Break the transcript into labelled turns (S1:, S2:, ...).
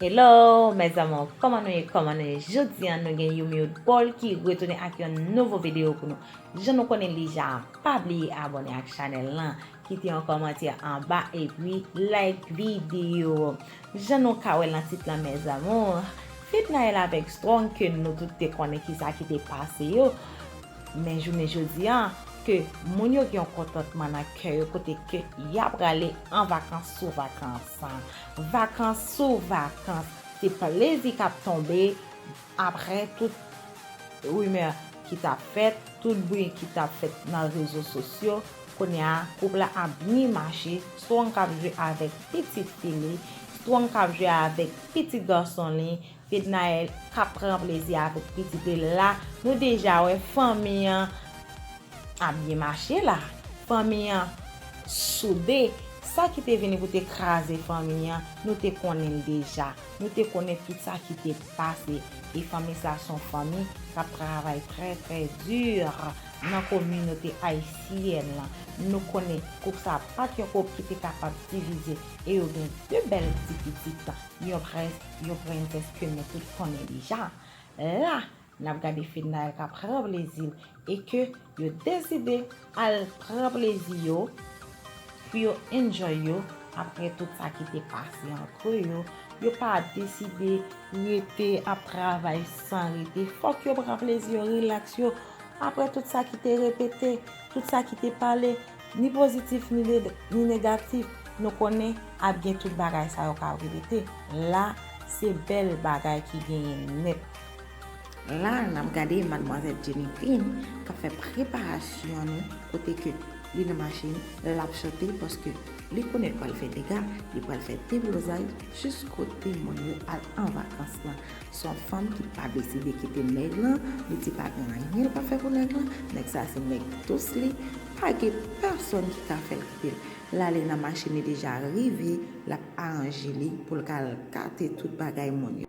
S1: Hello mes amours kòman nou ye kòman nou ye jodi an nou gen Youmiwood Paul ki retounen ak yon nouvo video pou nou jan nou konnen li ja pa bliye abòne ak chanèl lan kite yon kòmantè anba epi like video jan nou ka wè lan tit lan mes amours Fednaelle avèk Strong ke nou tout te konnen kisa ki te pase yo men jounen jodi an ke moun yo gen yon kontantman nan kè yo kote ke ya prale an vakans sou vakans. Vakans sou vakans. Se plezi k ap tonbe apre tout rimè ki t ap fèt, tout bri ki t ap fèt nan rezo sosyo. Kounye a, koup la ap byen mache. Strong k ap jwe avèk pitit fi li. Strong k ap jwe avèk pitit gason li. Fednaelle kap pran plezi avèk pitite l la nou deja wè fanmi an ap byen mache la fanmi an soude sa ki te vini pou te kraze fanmi an nou te konnen l deja nou te konnen tout sa ki te pase e fanmi sa son fanmi kap travay trè trè dur nan kominote ayisyèn lan nou konnen koup sa pat yon koup ki te kapab divize e yo gen 2 bèl ti pitit yon prèske Yon prentès ke nou tout konnen deja. La, n ap gade Fedna El ka pran plezi l e ke yo deside al pran plezi yo pou yo enjoy yo apre tout sa ki te pase antre yo. Yo pa deside rete ap travay san rete. Fòk yo pran plezi yo, rilaks yo apre tout sa ki te repete, tout sa ki te pale. Ni pozitif ni ni negatif nou konnen ap gen tout bagay sa yo kap repete la se bèl bagay ki genyen nèt. La nap gade madmwazèl Jenny Dean kap fè preparasyon li kote ke li nan machin lap chante paske li konnen li pral fè dega li pral fè deblozay jis kote moun yo al an vakans lan. Son fanm ki pa deside kite nèg lan, li di pa gen anyen l pa fè pou nèg lan, nèg sa se nèg dous li, pa gen pèsòn ki ka fè l kite l. L ale nan machin li deja rive, l ap aranje li pou l ka al kate tout bagay moun yo.